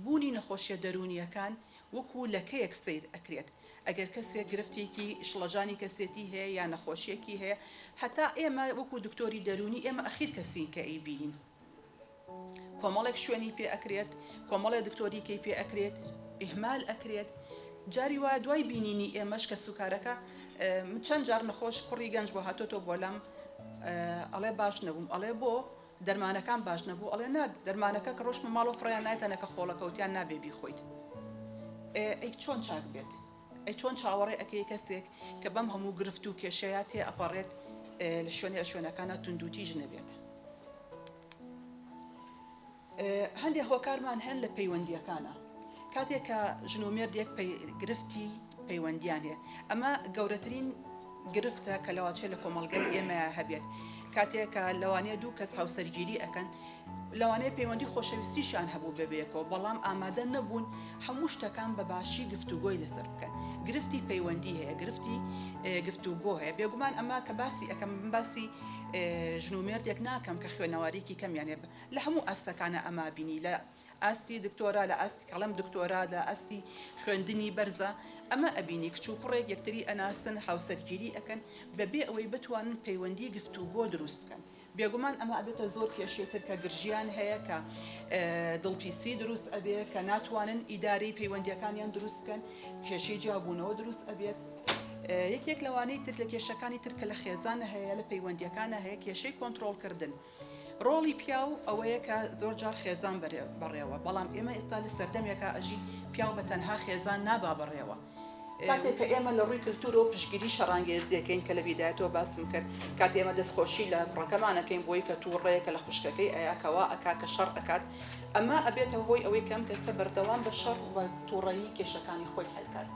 بوونی نەخۆشیە دەروونیەکان وەکو لەکەیەک سەیر ئەکرێت ئەگەر کەسێک گرفتێکی شڵەژانی کەسێتی هەیە یا نەخۆشیەکی هەیە هەتا ئێمە وەکو دکتۆری دەروونی ئێمە ئەخیر کەسین کە ئەی بینین کۆمەڵێک شوێنی پێ ئەکرێت کۆمەڵێ دکتۆری کەی پێ ئەکرێت ئیهمال ئەکرێت جاری وایە دوای بینینی ئێمەش کە سوکارەکە چەند جار نەخۆش کوڕی گەنج بۆ هاتۆتۆ بۆ لام ئەڵێ باش نەبووم ئەڵێ بۆ دەرمانەکان باش نەبوو ئەڵێ نا دەرمانەکە کە ڕۆشتمە ماڵۆ فڕیان نایتەنەکە خۆڵەکەوتیان نابێ بیخۆیت ئەی چۆن چاک بێت ئەی چۆن چاوەڕێ ئەەکەی کەسێک کە بەم هەموو گرفت و کێشەیە تێ ئەپەڕێت لە شوێنێ شوێنەکانە توندوتیژ نەبێت. هەندێک هۆکارمان هەن لە پەیوەندییەکانا کاتێک کە ژن و مێردێک گرفتی پەیوەندیان هەیە ئەمە گەورەترین گرفتە کە لەواچێت لە کۆمەڵگەی ئێمە هەبێت کاتێکە لەوانەیە دوو کەس هاوسەرگیری ئەەکەن لەوانەیە پەیوەندی خۆشەویستیشان هەبوو بەبێکەوە بەڵام ئامادە نەبوون هەموو شتەکان بە باشی گفتوگۆی لەسەر بکەن گرفتی پەیوەندی هەیە گرفتی گفتوگۆ هەیە بێگومان ئەمە کە باسی ئەەکەم باسی ژن و مێردێک ناکەم کە خوێنەوارێکی کەمیانێ لە هەموو ئاستەکانا ئەمە بینی لە ئاستی دکتۆرا لە ئاستی کەڵێم دکتۆرا لە ئاستی خوێندنی بەرزا ئەمە ئەبینی کچ و کوڕێک یەکتری ئەناسن هاوسەرگیری ئەکەن بەبێ ئەوەی بتوانن پەیوەندی گفتوگۆ دروست بکەن بێگومان ئەمە ئەبێتە زۆر کێشەی تر کە گرژیان هەیە کە دڵپیسی دروست ئەبێ کە ناتوانن ئیدارەی پەیوەندیەکانیان دروست بکەن کێشەی جیابوونەوە دروست ئەبێت یەکێک لەوانەی تر لە کێشەکانی تر کە لە خێزانە هەیە لە پەیوەندیەکانە هەیە کێشەی کۆنتترۆلکردن. ڕۆڵی پیاو ئەوەیە کە زۆر جار خێزان بەرێ بەڕێوە بەڵام ئێمە ئێستا لە سەردەمێکا ئەژین پیاو بە تەنها خێزان نابا بەڕێوە کاتێک کە ئێمە لە ڕووی کلتورەوە پشگیری شەڕانگێزیەکەین کە لە بیدایەتەوە باسم کرد کات ئێمە دەستخۆشی لە کوڕەکەمانەکەین بۆی کە تووڕەیە کە لە خوشکەکەی ئەیا کەوا ئەکا کە شەڕ ئەکات ئەمە ئەبێتە هۆی ئەوەی کەم کەسە بەردەوام بە شەڕ و تووڕەیی کێشەکانی خۆی حلکات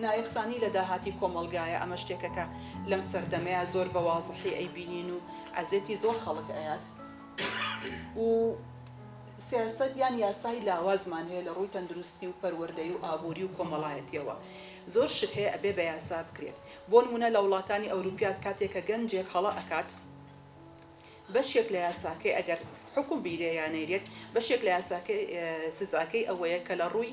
نایەکسانی لە داهاتی کۆمەڵگایە ئەمە شتێکەکە لەم سەردەمەیە زۆر بە وازحی ئەیبینین و عەزێتی زۆر خەڵک ئەیات و سیاسەت یان یاسای لاوازمان هەیە لە ڕووی تەندروستی و پەروەردەی و ئابووری و کۆمەڵایەتیەوە زۆر شت هەیە ئەبێ بە یاسا بکرێت بۆ نموونە لە وڵاتانی ئەوروپیات کاتێ کە گەنجێک هەڵە ئەکات بەشێک لە یاساکەی ئەگەر حکوم بیرێ یا نەیرێت بەشێک لە یاساکەی سزاکەی ئەوەیە کە لە ڕووی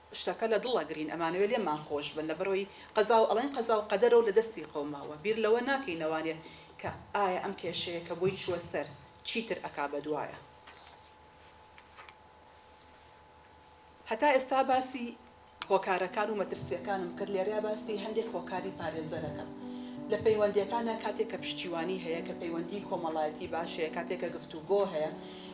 شتەکە لە دڵە گرین ئەمانەوێ لێمان خۆش بن لەبەرەوەی قەزاو ئەڵێن قەزاو قەدەرەو لە دەستی قەوماوە بیر لەوە ناکەی نەوانێ کە ئایا ئەم کێشەیە کە بۆی چووە سەر چیتر ئەکا بەدوایە هەتا ئێستا باسی هۆکارەکان و مەترسیەکانم کرد لێرە باسی هەندێک هۆکاری پارێزەرەکەم لە پەیوەندیەکانە کاتێک کە پشتیوانی هەیە کە پەیوەندی کۆمەڵایەتی باش هەیە کاتێک کە گفتوگۆ هەیە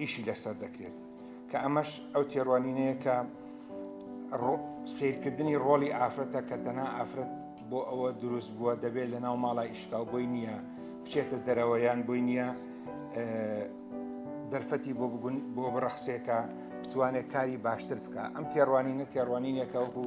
ئیشی لەسەر دەکرێت کە ئەمەش ئەو تێڕوانینەیە کە سیرکردنی ڕۆڵی ئافرەتە کە تەنها ئافرەت بۆ ئەوە دروست بووە دەبێت لە ناو ماڵە ئیشکاو بۆی نییە بچێتە دەرەوەیان بۆی نییە دەرفەتی بۆ بگون بۆ بڕەخسێکە بتوانێت کاری باشتر بکە ئەم تێڕوانینە تێڕوانینێکە وەکو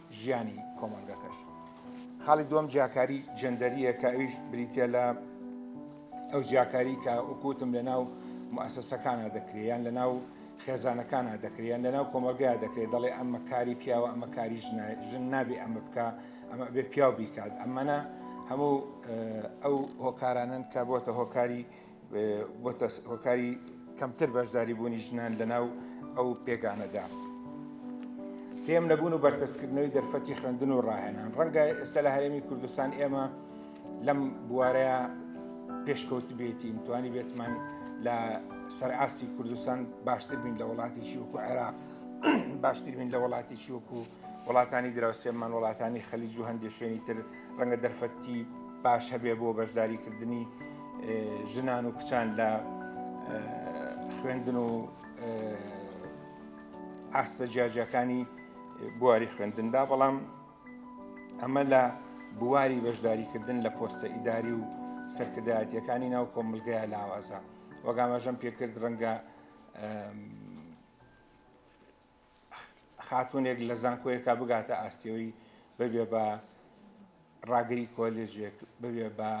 ژیانی کۆمەڵگەکەش. خاڵی دووەم جیاکاری جەندەریە کە ئەویش بریتە لە ئەو جیاکاری کە وکوتم لە ناو مؤسسەکانە دەکرێت یان لە ناو خێزانەکانە دەکرێن لە ناو کۆمەلگای دەکرێت دەڵێ ئەمە کاری پیاوە ئەمە کاری ژن نابێ ئەمە بکە ئەمە بێ پیاو بیکات ئەمەە هەموو ئەو هۆکارانن کە بۆتە هۆکاری بۆتە هۆکاری کەمتر بەشداری بوونی ژنان لەناو ئەو پێگانەدا. سێم نەبوون و بەرتەسکردنەوەی دەرفەتی خوێندن و ڕاهێنان ڕەنگە ئێستا لە هەرێمی کوردستان ئێمە لەم بوارەیە پێشکەوت بێتین توانی بێتمان لە سەرئاستی کوردستان باشتر بین لە وڵاتێکی وەکو عێراق باشتر بین لە وڵاتێکی وەکو وڵاتانی دراوسێمان، وڵاتانی خەلیج و هەندێ شوێنی تر ڕەنگە دەرفەتی باش هەبێ بۆ بەشداریکردنی ژنان و کچان لە خوێندن و ئاستە جیاجیەکانی بواری خوێندندا بەڵام ئەمە لە بواری بەشداریکردن لە پۆستە ئیداری و سەرکردایەتەکانی ناو کۆمەلگای لاوازە وەگامەژەم پێکرد ڕەنگە خاتوونێک لە زانکۆیەکە بگاتە ئاستیەوەی ببێ بە ڕاگری کۆلێژێک ببێ بە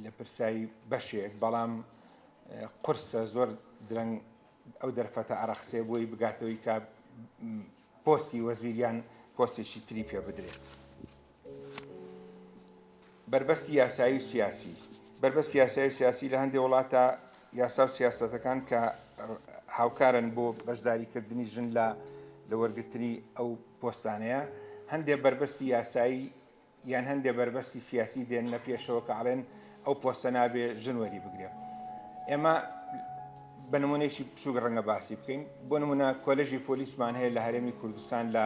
لە پرسایی بەشێک بەڵام قرسە زۆر درەنگ ئەو دەرفەتە ئارەخسێ بۆی بگاتەوەی کە پۆستی وەزیریان پۆستێکی تری پێ بدرێت. بەربەستی یاسایی و سیاسی بەربەست یاسایی و سیاسی لە هەندێک وڵاتە یاسا و سیاستەکان کە هاوکارن بۆ بەشداریکردنی ژن لە لە وەرگرتنی ئەو پۆستانەیە هەندێک بەربەستی یاسایی یان هەندێک بەربەستی سیاسی دێن نە پێشەوە کە ئاڵێن ئەو پۆستە نابێ ژن وەری بگرێ ئێمە بە نمونەیەکی بچووک ڕەنگە باسی بکەین بۆ نمونە کۆلژی پۆلیسمان هەیە لە هەرێمی کوردستان لە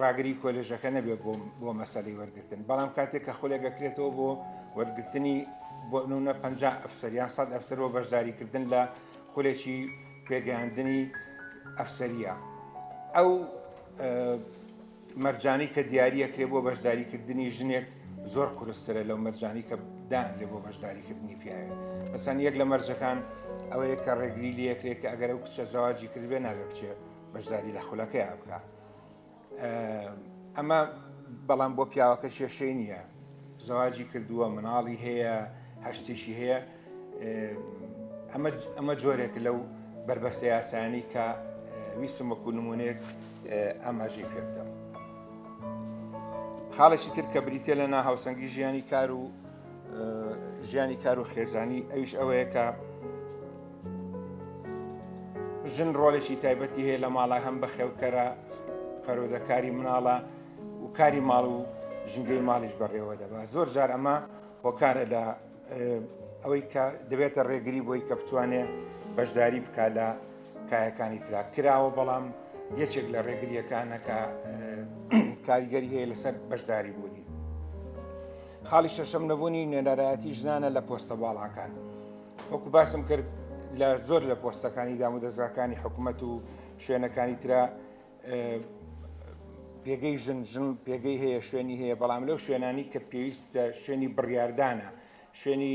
ڕاگری کۆلێژەکە نەبێت بۆ بۆ مەسەلەی وەرگرتن بەڵام کاتێک کە خولێک دەکرێتەوە بۆ وەرگرتنی بۆ نونە پ ئەفسەر یان سەد ئەفسەر بۆ بەشداریکردن لە خولێکی پێگەیاندنی ئەفسەریە ئەو مەرجانی کە دیارەکرێ بۆ بەشداریکردنی ژنێک زۆر قورسترە لەو مەرجانی کە دانرێ بۆ بەشداریکردنی پیاوێت مەسەن یەک لە مەرجەکان ئەوەیە کە ڕێگری لەکرێت کە ئەگەر ئەو کچە زەواجی کردێ نابێ بچێت بەشداری لە خولەکەیا بکە ئەمە بەڵام بۆ پیاوەکە کێشەی نییە زەواجی کردووە مناڵی هەیە هەشتێکی هەیە ئەمە جۆرێک لەو بربەستە یاسانی کە ویستم وەکو نمونێک ئاماژەی پێ بدەم خاڵێکی تر کە بریتە لە ناهاوسەنگی ژیانی کار و ژیانی کار و خێزانی ئەویش ئەوەیە کە ژن ڕۆلێکی تایبەتی هەیە لە ماڵە هەم بەخێوکەرە پەرۆدەکاری مناڵە و کاری ماڵ و ژنگەی ماڵیش بەڕێوە دەبا زۆر جار ئەمە هۆکارە لە ئەوەی کە دەبێتە ڕێگری بۆی کە بتوانێت بەشداری بکە لە کایەکانی ترا کراوە بەڵام یەکێک لە ڕێگریەکانەکە کاریگەری هەیە لەسەر بەشداری بوونی خاڵی شەشەم نەبوونی نوێنەرایەتی ژنانە لە پۆستە باڵاکان وەکو باسم کرد لە زۆر لە پۆستەکانی دام و دەزگاکانی حکوومەت و شوێنەکانی تررا پێگەی ژن ژن پێگەی هەیە شوێنی هەیە بەڵام لەو شوێنانی کە پێویستە شوێنی بڕاردانە شوێنی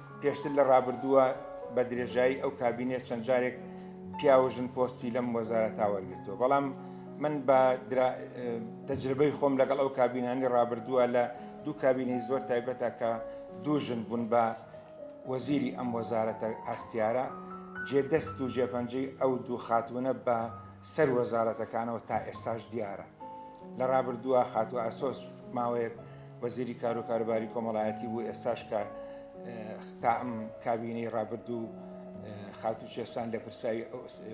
پێشتر لە ڕابردووە بە درێژایی ئەو کابینەیە چەند جارێک پیاو و ژن پۆستی لەم وەزارەتا وەرگرتووە بەڵام من بە تەجربەی خۆم لەگەڵ ئەو کابینانی ڕابردووە لە دوو کابینەی زۆر تایبەتە کە دوو ژن بوون بە وەزیری ئەم وەزارەتە ئاستیارە جێدەست و جێپەنجەی ئەو دوو خاتوونە بە سەر وەزارەتەکانەوە تا ئێستاش دیارە لە ڕابردووە خاتوو ئاسۆس ماوەیەک وەزیری کارو کاروباری کۆمەڵایەتی بوو ئێستاش کە تا ئەم کابینەی ڕابردوو خاتو شێسان لە پرسای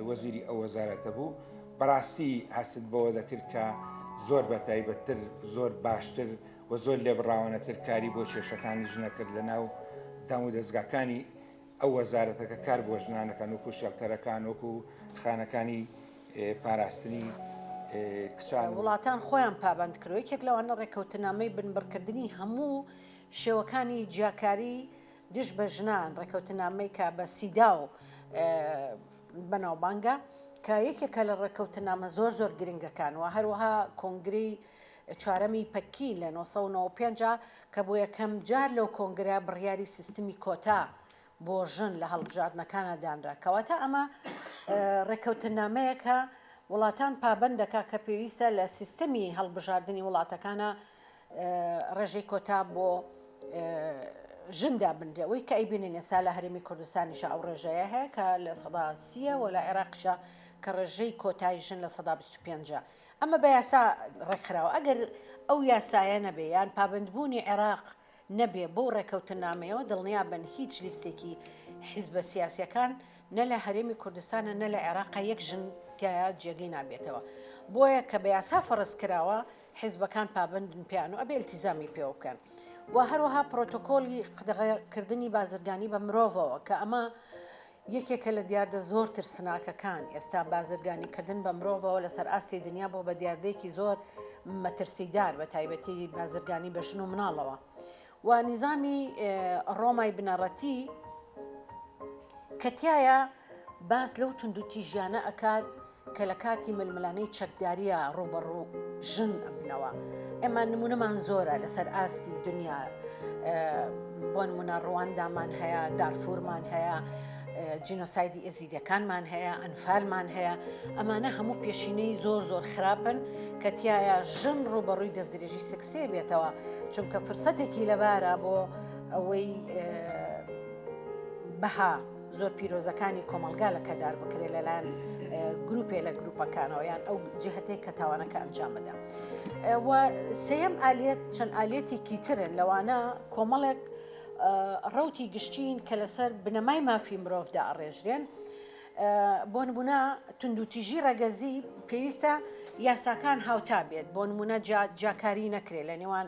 وەزیری ئەو وەزارەتە بوو بەڕاستی هەست بەوە دەکرد کە زۆر بە تایبەتتر زۆر باشتر و زۆر لێبڕاوانەتر کاری بۆ کێشەکانی ژنەکرد لە ناو دام و دەستگاکانی ئەو وەزارەتە کە کار بۆ ژنان دەکەن وەکو شێڵتەرەکان وەکو خانەکانی پاراستنی کچان وڵاتان خۆیان پابەند کرد و یەکێک لەوانە ڕێککەوتنامەی بنبڕکردنی هەموو شێوەکانی جیاکاری دژ بە ژنان ڕێککەوتنامەی کە بە سیداو بەناوبانگە کە یەکێکە لە ڕێککەوتنامە زۆر زۆر گرنگەکان و هەروەها کۆنگری چوارەمی پەکی لە 1995 کە بۆ یەکەم جار لەو کۆنگرە بڕیاری سیستمی کۆتا بۆ ژن لە هەڵبژاردنەکانا دانرا، کەواتە ئەمە ڕێککەوتننامەیەکە وڵاتان پابەند دەکا کە پێویستە لە سیستمی هەڵبژاردنی وڵاتەکانا ڕێژەی کۆتا بۆ ژن دابنرێ، وەی کە ئەیبینین ئێستا لە هەرێمی کوردستانیشا ئەو ڕێژەیە هەیە کە لە سەدا سیە و لە عێراقیشا کە ڕێژەی کۆتای ژن لە سەدا بیست و پێنجە. ئەمە بە یاسا ڕێکخراوە، ئەگەر ئەو یاسایە نەبێ یان پابەندبوونی عێراق نەبێ بەو ڕێککەوتننامەیەوە دڵنیابن هیچ لیستێکی حیزبە سیاسیەکان نە لە هەرێمی کوردستانە نە لە عێراقە یەک ژن تیایا جێگەی نابێتەوە بۆیە کە بە یاسا فەڕزکراوە حیزبەکان پابەندن پێیان و ئەبێ التیزامی پێوە بکەن و هەروەها پرۆتۆکۆلی قدەغەکردنی بازرگانی بە مرۆڤەوە کە ئەمە یەکێکە لە دیاردە زۆر ترسناکەکان ئێستا، بازرگانیکردن بە مرۆڤەوە لەسەر ئاستی دنیا بووە بە دیاردەیەکی زۆر مەترسیدار، بەتایبەتی بازرگانی بە ژن و مناڵەوە و نیزامی ڕۆمای بنەڕەتی کە تیایا باس لەو توندوتیژیانە ئەکات، کە لە کاتی ململانێی چەکدارییە ڕووبەڕوو ژن ئەبنەوە. ئێمە نموونەمان زۆرە لەسەر ئاستی دنیا، بۆ نموونە ڕواندامان هەیە، دارفورمان هەیە، جینۆسایدی ئێزیدییەکانمان هەیە، ئەنفالمان هەیە، ئەمانە هەموو پێشینەی زۆر زۆر خراپن کە تیایا ژن ڕووبەڕووی دەستدرێژی سێکسیی بێتەوە، چونکە فرسەتێکی لەبارە بۆ ئەوەی بەها. زۆر پیرۆزەکانی کۆمەڵگا لە کەدار بکرێت لەلایەن گروپێ لە گروپەکانەوە یان ئەو جهتەی کە تاوانەکە ئەنجام بدە و سێم ئالیت چەند ئالەتێکی ترن لەوانە کۆمەڵێک ڕوتی گشتین کە لەسەر بنەمای مافی مرۆڤدا ئەڕێژرێن بۆ نمونە تونندوتیژی ڕەگەزی پێویستە یاساکان هاوتا بێت بۆ نمونە جاکاری نەکرێت لە نێوان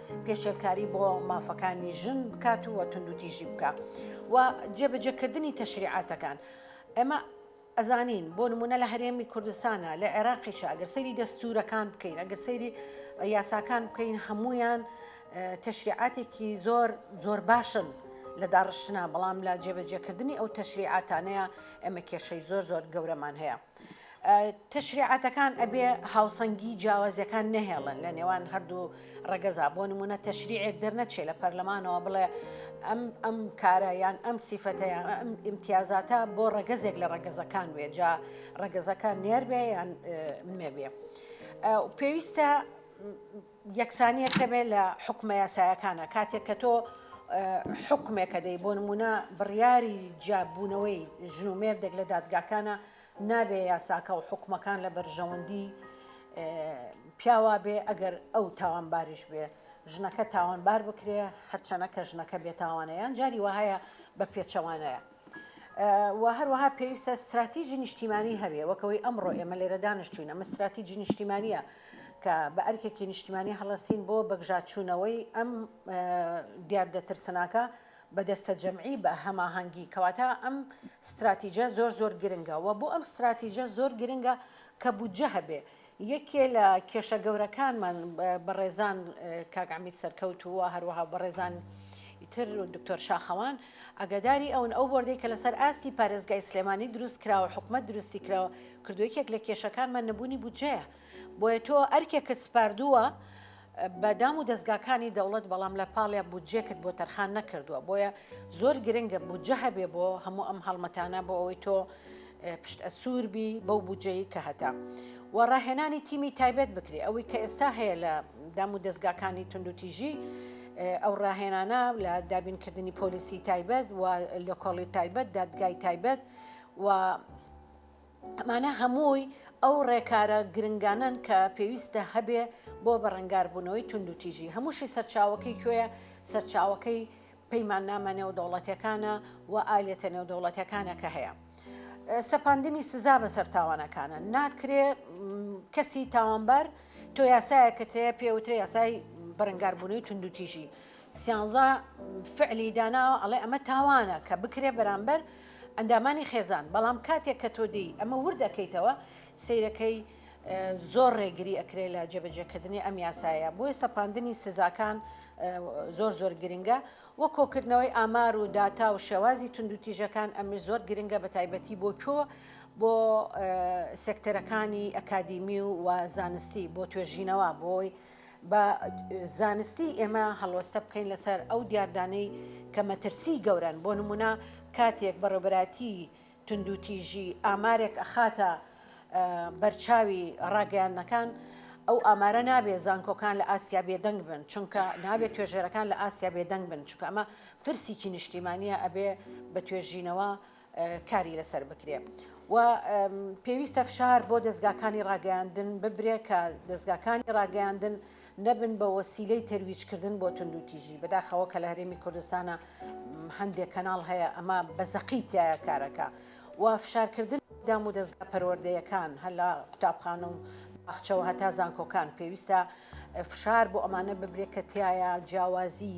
پێشێلکاری بۆ مافەکانی ژن بکات و توندوتیژی بکە و جێبەجێکردنی تەشریعاتەکان ئەمە ئەزانین بۆ نمونە لە هەرێمی کوردستانە لە عێراقیشە ئەگەر سەیری دەستورەکان بکەین ئەگەر سەیری یاساکان بکەین هەمویان تەشریعاتێکی زۆر زۆر باشن لە داڕشتنا بەڵام لە جێبەجێکردنی ئەو تەشریعاتانەیە ئەمە کێشەی زۆر زۆر گەورەمان هەیە. تەشریعاتەکان ئەبێ هاوسەنگی جیاوازیەکان نەهێڵن لە نێوان هەردوو ڕەگەزا بۆ نمونە تەشریعێک دەرنەچێ لە پەرلەمانەوە بڵێ ئەم ئەم کارە یان ئەم سیفەتەیان ئەم ئیمتیازاتە بۆ ڕەگەزێک لە ڕەگەزەکان وێجا ڕەگەزەکان نێربێ یان نوێبێ پێویستە یەکسانیەک هەبێت لە حوکمە یاسایەکانا کاتێک کە تۆ حوکمێکە دەی بۆ نمونە بڕیاری جیابوونەوەی ژن و مێردێک لە دادگاکانە نابێ یاساکە و حکومەکان لە بەرژەوەندی پیاوا بێ ئەگەر ئەو تاوانباریش بێ ژنەکە تاوانبار بکرێ هەرچەنە کە ژنەکە بێتاوانەیان جاری وهەیە بە پێچەوانەیە و هەروەها پێویستە ستراتیجی نیشتیمانی هەبێ وەک ئەوەی ئەمڕۆ ئێمە لێرە دانیشتووین، ئەمە ستراتیجی نیشتیمانییە کە بە ئەرکێکی نیشتیمانی هەڵەسین بۆ بەگژاچوونەوەی ئەم دیاردە ترسناکە بە دەستە جەمعی بە هەماهەنگی، کەواتە ئەم ستراتیجە زۆر زۆر گرنگە و بۆ ئەم ستراتیجە زۆر گرنگە کە بودجە هەبێ، یەکێ لە کێشە گەورەکانمان بەڕێزان کاک عەمید سەرکەوت و هەروەها بەڕێزان تر دکتۆر شاخەوان ئەگەداری ئەون ئەو بردەی کە لەسەر ئاستی پارێزگای سلێمانی دروست کراوە حکومت دروستی کراوە کردوێکێک لە کێشەکانمان نەبوونی بودجەیە بۆیە تۆ ئەرکێکت سپاردووە بە دام و دەزگاکانی دەوڵەت بەڵام لە پاڵێ بودجێکت بۆ تەرخان نەکردووە بۆیە زۆر گرنگە بودجە هەبێ بۆ هەموو ئەم هەڵمەتانە بۆ ئەوەی تۆ پشت ئەسوور بی بەو بودجەیی کە هەتە و ڕاهێنانی تیمی تایبەت بکرێ ئەوەی کە ئێستا هەیە لە دام و دەستگاکانی توندوتیژی ئەو ڕاهێنانە لە دابینکردنی پۆلیسی تایبەت و لۆکۆڵی تایبەت دادگای تایبەت و ئەمانە هەمووی ئەو ڕێکارە گرنگانەن کە پێویستە هەبێ بۆ بەڕەنگاربوونەوەی توندوتیژی، هەمووشی سەرچاوەکەی کوێیە، سەرچاوەکەی پەیماننامە نێودەوڵەتیەکانە و ئالەتە نێودەوڵەتیەکانە کە هەیە. سەپاندنی سزا بەسەر تاوانەکانە، ناکرێ کەسی تاوانبار تۆ یاسایەکەت هەیە پێ وترێ یاسای بەرەنگاربوونەوەی توندوتیژی. سیانزا فعلی داناوە ئەڵێ ئەمە تاوانە کە بکرێ بەرامبەر ئەندامانی خێزان، بەڵام کاتێک کە تۆ دێی ئەمە ورد ئەکەیتەوە سەیرەکەی زۆر ڕێگری ئەکرێ لە جێبەجێکردنی ئەم یاسایە بۆیە سەپاندنی سزاکان زۆر زۆر گرنگە وە کۆکردنەوەی ئامار و داتا و شێوازی توندوتیژەکان ئەمش زۆر گرنگە بە تایبەتی بۆ کۆ بۆ سێکتەرەکانی ئەکادیمی و زانستی بۆ توێژینەوە بۆی با زانستی ئێمە هەڵوەستە بکەین لەسەر ئەو دیاردانەی کە مەترسی گەورەن بۆ نمونە کاتێک بەڕێبەراتی توندوتیژی ئامارێک ئەخاتە بەرچاوی ڕاگەیاندنەکان ئەو ئامارە نابێت زانکۆکان لە ئاسیا بێدەنگ بن چونکە نابێت توێژێرەکان لە ئاسیا بێدەنگ بن چونکە ئەمە پرسیی نیشتیمانە ئەبێ بە توێژینەوە و کاری لەسەر بکرێ و پێویستە فشار بۆ دەزگاکانی ڕاگەیاندن ببرێ کە دەزگاکانی ڕاگەیاندن نەبن بە وەسیلەی تەرویجکردن بۆ تونند و تیژی بەداخەوە کە لە هەرێمی کوردستانە هەندێک کەناڵ هەیە ئەمە بە زەقی تایە کارەکە و فشارکردن دام و دەستگا پەروەردەیەکان هەر لە قوتابخانە و باخچەوە هەتا زانکۆکان پێویستە فشار بۆ ئەمانە ببرێت کە تایە جیاوازی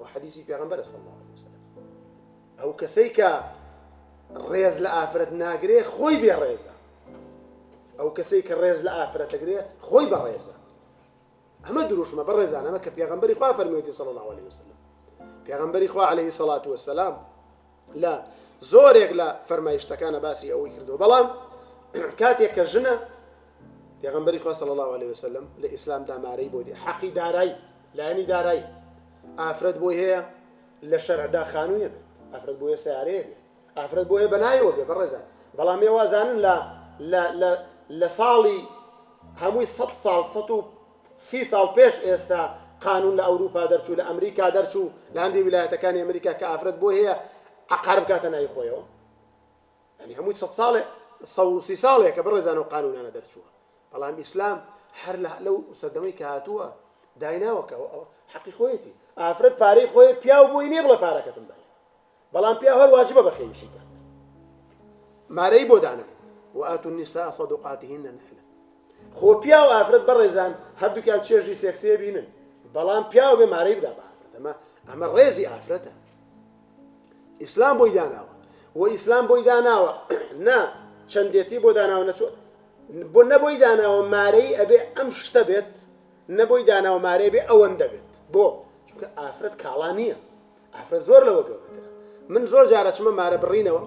وە حەدیسی پێغەمبەرە صلی اللە علیە وسلم ئەو کەسەی کە ڕێز لە ئافرەت ناگرێ خۆی بێ ڕێزە ئەو کەسەی کە ڕێز لە ئافرەت دەگرێ خۆی بە ڕێزە ئەمە دروشمە بە ڕێزانەمە کە پێغمبەری خوا فەرمێتی صلی الله عليه وسلم پێغمبەری خوا عليه سەڵات وسلام لە زۆرێک لە فەرمایشتەکانا باسی ئەوەی کردووە بەڵام کاتێک کە ژنە پێغمبەری خوا صلی الله عليه وسلم لە ئیسلام دامارەی بۆ دێ حەقی دارای لایەنی دارای ئافرەت بۆی هەیە لە شەرعدا خانوویە بێت ئافرەت بۆیە سیارەیە بێت ئافرەت بۆیە بەنایەوە بێ بەڕێزان بەڵام ێوازانن لە لە ساڵی هەمووی سە ساڵ سە و سی ساڵ پێش ئێستا قانون لە ئەوروپا دەرچوو لە ئەمریکا دەرچوو لە هەندێ ویلایەتەکانی ئەمریکا کە ئافرەت بۆی هەیە عەقار بکاتە ناوی خۆیەوە یعنی هەمووی سەد ساڵێ سەد و سی ساڵێکە بەڕێزان و قانونانە دەرچووە بەڵام ئیسلام هەر لەو سەردەمەی کە هاتووە دایناوەکە حەقی خۆیەتی ئافرەت پارەی خۆی پیاو بۆی نییە بڵێ پارەکەتم بەرێ بەڵام پیاو هەر واجبە بەخێویشی کات مارەی بۆ دانە وآتوا النساء صدقاتهن نحلة خۆ پیاو ئافرەت بەڕێزان هەردووکیان چێژی سێکسێ بینن بەڵام پیاو بێ مارەی بدا بە ئافرەت ئەمە ئەمە ڕێزی ئافرەتە ئیسلام بۆی داناوە و ئیسلام بۆی داناوە نا چەندێتی بۆ داناوە نەچوە بۆ نەبۆی داناوە مارەی ئەبێ ئەم شتە بێت نەبۆی داناوە مارەی بێ ئەوەندە بێت بۆ چونکە ئافرەت کاڵا نییە ئافرەت زۆر لەوە گەورەترە من زۆر جار ئەچمە مارە بڕینەوە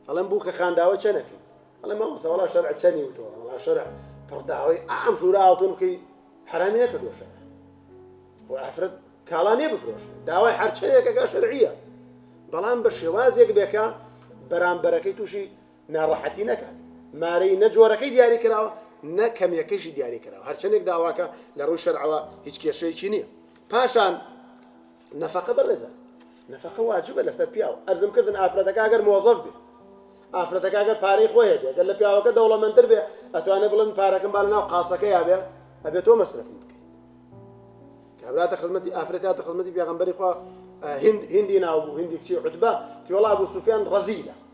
ئەڵێم بوو کە خانداوە چەنەکەی ئەڵێ مامۆستا وەڵا شەرع چەنی وتەوە وەڵا شەرع پڕداوەی ئام ژوورە ئاڵتون بکەی حرامی نەکردو شەرع خۆ ئافرەت کاڵا نێ بفرۆشێ داوای هەرچەرێکەکە شەرعیە بەڵام بە شێوازێک بێکە بەرامبەرەکەی تووشی ناڕەحەتی نەکات، مارەی نە جۆرەکەی دیاری کراوە نە کەمیەکەیشی دیاری کراوە، هەرچەندێک داواکە لە ڕووی شەرعەوە هیچ کێشەیەکی نییە. پاشان نەفەقە بەڕێزان نەفەقە واجبە لەسەر پیاو، ئەرزم کردن ئافرەتەکە ئەگەر مۆزەف بێ ئافرەتەکە ئەگەر پارەی خۆی هەبێ گەر لە پیاوەکە دەوڵەمەندتر بێ ئەتوانێ بڵێ من پارەکەم با لەناو قاسەکەیا بێ ئەبێ تۆ مەسرەفم بکەیت کابراتە خزمەتی ئافرەت هاتە خزمەتی پێغەمبەری خوا هند هندی ناو بوو هندی کچی عتبە پیوەڵا بوو سوفیان ڕەزیلە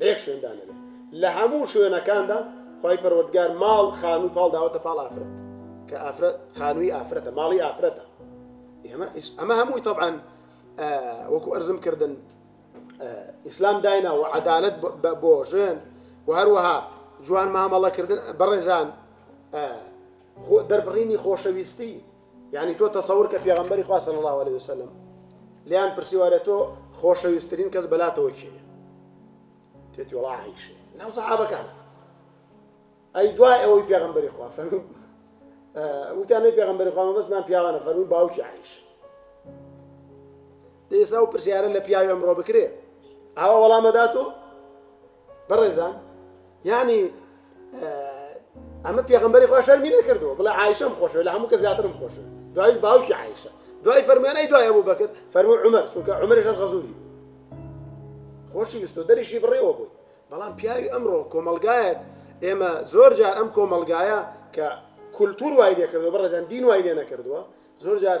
لەیەک شوێندا نەبێ لەهەموو شوێنەکاندا خوای پەروەردگار ماڵ خانوو پاڵ داوەتە پاڵ ئافرەت کە ئافرەت خانووی ئافرەتە ماڵی ئافرەتە ئێمە ئەمە هەمووی طبعاان وەکو ئەرزم کردن ئیسلام داینا و عدالت بۆ ژێن و هەروەها جوان مامەڵەکردن بەڕێزان دەربڕینی خۆشەویستی یانی تۆ تەسەور کە پێغەمبەری خوا صلی اللە علیە وسلم لێیان پرسیوە ئەرێ تۆ خۆشەویسترین کەس بەلاتەوە کێیە تێتی وڵا عیشێ ناو سەحابەکانە ئەی دوای ئەوەی پێغەمبەری خوا فەرمو وتیانەی پێغەمبەری خوا مەبەستمان پیاوانە فەرمووی باوکی عیش دەیسا و پرسیارە لە پیاوی ئەمڕۆ بکرێ ئاوا وەڵامەدات و بەڕێزان یەعنی ئەمە پێغەمبەری خوا شەرمی نەکردووە بڵێ عایشەم خۆشەوێت لە هەموو کە زیاترم خۆشەوێت دوایش باوکی عایشە دوای فەرموێنەی دوای ئەبوو بەکر فەرموو عومەر چونکە عومەریشان غەزووری خۆشی ویستۆ دەریشی بڕێوە بووی بەڵام پیاوی ئەمڕۆ کۆمەلگایەک ئێمە زۆر جار ئەم کۆمەلگایە کە کولتور وای لێ کردووە بەڕێزان دین وای لێ نەکردووە زۆر جار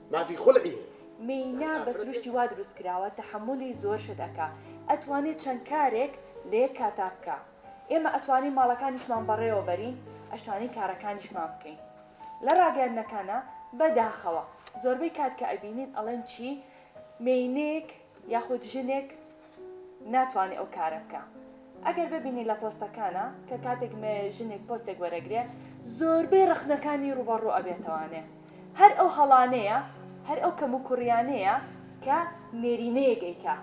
مافی خلعی هەیە. مینا بە سروشتی وا دروست کراوە تەحەمولی زۆر شت ئەکا ئەتوانێ چەند کارێک لە یەک کاتا بکا ئێمە ئەتوانین ماڵەکانیشمان بەڕێوە بەرین ئەشتوانین کارەکانیشمان بکەین لە ڕاگەیاندنەکانا بە داخەوە زۆربەی کات کە ئەبینین ئەڵێن چی مێینەیەک یاخود ژنێک ناتوانێ ئەو کارە بکا ئەگەر ببینی لە پۆستەکانا کە کاتێک مێ ژنێک پۆستێک وەرەگرێ زۆربەی ڕەخنەکانی ڕووبەڕوو ئەبێتەوانێ هەر ئەو هەڵانەیە هەر ئەو کەم و کوڕیانەیە کە نێرینەیەک ئەیکا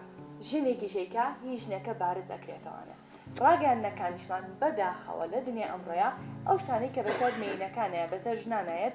ژنێکیش ئەیکا هی ژنەکە بارز ئەکرێتەوانێ ڕاگەیاندنەکانیشمان بەداخەوە لە دنیای ئەمڕۆیا ئەو شتانەی کە بەسەر مێینەکانایە بەسەر ژنانایەت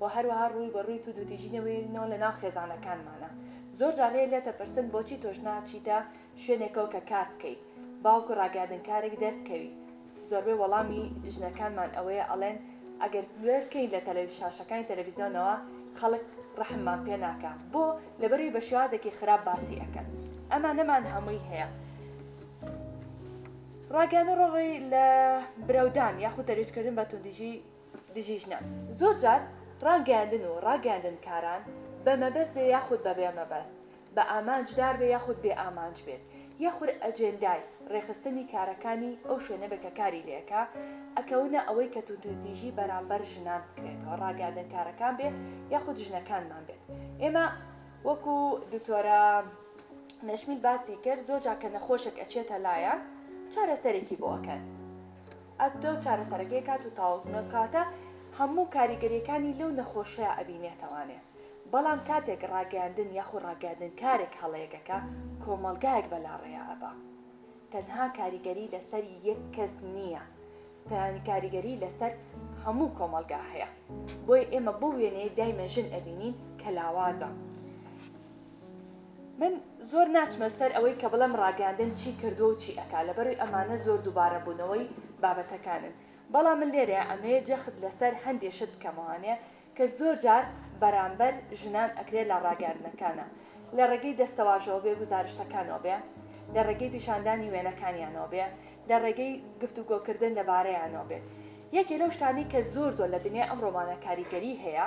وە هەروەها ڕووی بە ڕووی توندوتیژی نەوێرینەوە لە ناو خێزانەکانمانا زۆر جار لێت لێت ئەپرسن بۆچی تۆش ناچیتە شوێنێکەوە کە کار بکەی باوکو ڕاگەیاندنکارێک دەربکەوی زۆربەی وەڵامی ژنەکانمان ئەوەیە ئەڵێن ئەگەر کوێر بکەین لە تەلە شاشەکانی تەلەفیزیۆنەوە خەڵک ڕەحممان پێ ناکا بۆ لەبەروی بە شێوازێکی خراپ باسی ئەکەن ئەمانەمان هەمووی هەیە ڕاگەیاندن ڕۆڵی لە برەودان یاخود تەرویج کردن بە توندیژی دژی ژنان زۆر جار ڕاگەیاندن و ڕاگەیاندنکاران بە مەبەست بێ یاخود بە بێ مەبەست، بە ئامانجدار بێ یاخود بێ ئامانج بێت، یاخود ئەجێندای ڕێکخستنی کارەکانی ئەو شوێنە بێ کە کاری لێکا، ئەکەونە ئەوەی کە توندوتیژی بەرامبەر ژنان بکرێتەوە، ڕاگەیاندنکارەکان بێ یاخود ژنەکانمان بێت. ئێمە وەکو دکتۆرە نەشمیل باسی کرد، زۆر جار کە نەخۆشێک ئەچێتە لایان چارەسەرێکی بۆ ئەکەن، ئەکتەو چارەسەرەکەی کات و تاوەک نەوکاتە هەموو کاریگەریەکانی لەو نەخۆشەیا ئەبینێتەوانێ بەڵام کاتێک ڕاگەیاندن یاخو ڕاگەیاندن کارێک هەڵەیەک ئەکا کۆمەڵگایەک بەلاڕێیا ئەبا تەنها کاریگەری لەسەر یەک کەس نیە تەنانی کاریگەری لەسەر هەموو کۆمەڵگا هەیە بۆیە ئێمە بەو وێنەیەی دایمە ژن ئەبینین کە لاوازە. من زۆر ناچمە سەر ئەوەی کە بڵێم ڕاگەیاندن چی کردووە و چی ئەکا لەبەروی ئەمانە زۆر دووبارەبوونەوەی بابەتەکانن بەڵام من لێرەیا ئەمەوێ جەخت لەسەر هەندێ شت بکەمەوانێ کە زۆر جار بەرامبەر ژنان ئەکرێ لە ڕاگەیاندنەکانا لە ڕێگەی دەستەواژەوە بێ گوزارشتەکانەوە بێ لە ڕێگەی پیشاندانی وێنەکانیانەوە بێ لە ڕێگەی گفتوگۆکردن لەبارەیانەوە بێت یەکێ لەو شتانەی کە زۆر زۆر لە دنیای ئەمڕۆمانا کاریگەری هەیە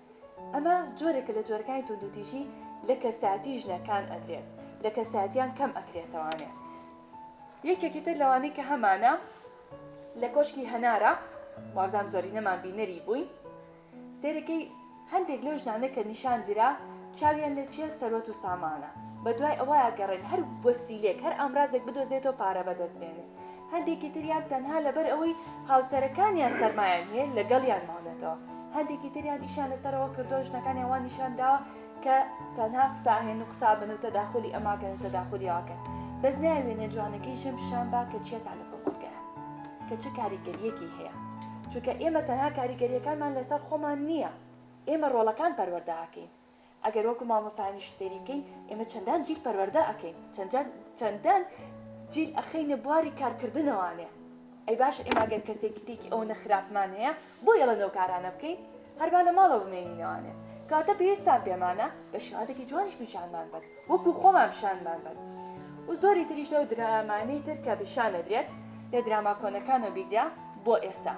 ئەمە جۆرێکە لە جۆرەکانی توندوتیژی لە کەسایەتی ژنە کان ئەدرێت لە کەسایەتیان کەم ئەکرێتەوانێ یەکێکی تر لەوانەی کە هەمانە لە کۆشکی هەنارە وازام زۆری نەمان بینەری بووی سێرەکەی هەندێک لەو ژنانە کە نیشان درا چاویان لە چیە سەروەت و سامانە بە دوای ئەوەیە گەڕێن هەر وەسیلێک هەر ئامرازێک بدۆزێتەوە پارە بەدەست بێنێ هەندێکی تریان تەنها لەبەر ئەوەی هاوسەرەکانیان سەرمایان هەیە لەگەڵیان ماونەتەوە، هەندێکی تریان ئیشیان لەسەرەوە کردووە ژنەکانیان وا نیشان داوە کە تەنها قسە ئەهێن و قسە ئەبەن و تەداخولی ئەم ئاکەن و تەداخولی ئەو ئاکەن، بەس نایەوێنێ جوانەکەی ژن پیشان با کە چیە تا لە کۆمەڵگەیە کە چ کاریگەریەکی هەیە، چونکە ئێمە تەنها کاریگەریەکانمان لەسەر خۆمان نیە، ئێمە ڕۆڵەکان پەروەردە ئەکەین. ئەگەر وەکو مامۆستایانیش سەیری بکەین ئێمە چەندان جیل پەروەردە ئەکەین چەندان چەندان جیل ئەخەینە بواری کارکردنەوانێ ئەی باشە ئێمە ئەگەر کەسێکی تێکی ئەوەنە خراپمان هەیە بۆ یەڵە نەو کارانە بکەین هەربا لە ماڵەوە بمێنینەوانێ کاتە پێویستان پێمانە بە شێوازێکی جوانیش پیشانمان بن وەکو خۆمان پیشانمان بن و زۆری تریش لەو درامانەی تر کە پیشانەدرێت لە دراما کۆنەکانە بیگرە بۆ ئێستا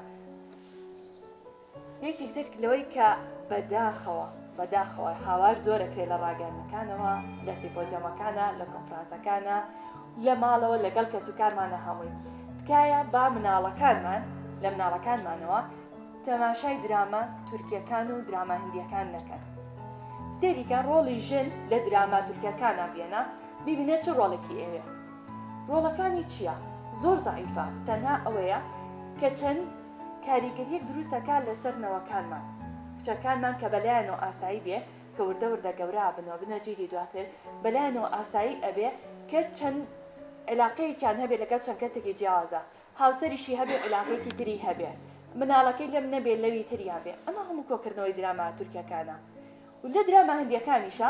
یەکێک تر لەوەی کە بەداخەوە بەداخەوە هاوار زۆرەکرێت لە ڕاگەنەکانەوە لە سیپۆزیۆمەکانە لە کۆنفرانسەکانە لە ماڵەوە لەگەڵ کەس و کارمانە هەمووی تکایە با مناڵەکانمان لە مناڵەکانمانەوە تەماشای دراما تورکیەکان و دراما هندیەکان نەکەن سێریکە ڕۆڵی ژن لە دراما تورکیەکانە بێنە ببینە چ ڕۆڵێکی ئێوێ ڕۆڵەکانی چییە؟ زۆر زعیفە تەنها ئەوەیە کە چەند کاریگەریەک دروست ئەکا لەسەر نەوەکانمان کچەکانمان کە بەلایانەوە ئاسایی بێ کە وردە وردە گەورە ئەبن و ئەبنە جیلی دواتر بەلایانەوە ئاسایی ئەبێ کە چەند عیلاقەیەکیان هەبێ لەگەڵ چەند کەسێکی جیاوازە هاوسەریشی هەبێ عیلاقەیەکی تری هەبێ مناڵەکەی لەم نەبێ لەوی تریا بێ ئەمە هەموو کۆکردنەوەی دراما تورکەکانە لە دراما هندیەکانیشا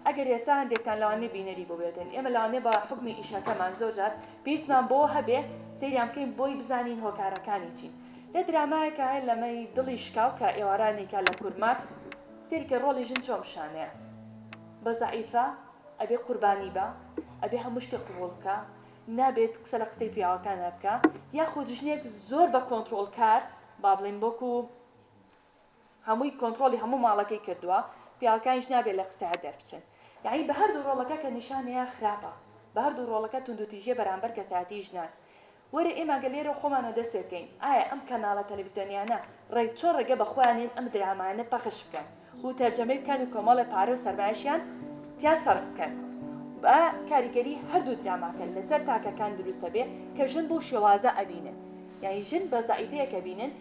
ئەگەر ئێستا هەندێکتان لەوانەیە بینەری بووبێتن ئێمە لەوانەیە بە حوکمی ئیشەکەمان زۆر جار پێویستمان بەوە هەبێ سەیریان بکەین بۆی بزانین هۆکارەکانی چین لە درامایەکە هەیە لەمەی دڵی شکاو کە ئێوارانێکا لە کور ماکس سەیری کە ڕۆڵی ژن چۆن پیشانەیە بە زەعیفە ئەبێ قوربانی بە ئەبێ هەموو شتێ قبوڵ بکە نابێت قسە لە قسەی پیاوەکانە بکە یاخود ژنێک زۆر بە کۆنترۆڵکار با بڵێین وەکو هەمووی کۆنتڕۆڵی هەموو ماڵەکەی کردووە پیاوەکانیش نابێت لە قسە هەر دەربچن یانی بە هەردوو ڕۆڵەکە کە نیشانەیە خراپە بە هەردوو ڕۆڵەکە توندوتیژیە بەرامبەر کەسایەتی ژنان وەرە ئێمە گەر لێرە خۆمانەوە دەست پێ بکەین ئایا ئەم کەناڵە تەلەفزیۆنیانە ڕێک چۆن ڕێگە بە خۆیان نێن ئەم درامایانە پەخش بکەن و تەرجەمەی بکەن و کۆمەڵێ پارە و سەرمایەشیان تیا سەرف بکەن با کاریگەری هەردوو دراماکە لەسەر تاکەکان دروستە بێ کە ژن بۆ شێوازە ئەبینن یعنی ژن بە زعیفەیەکە بینن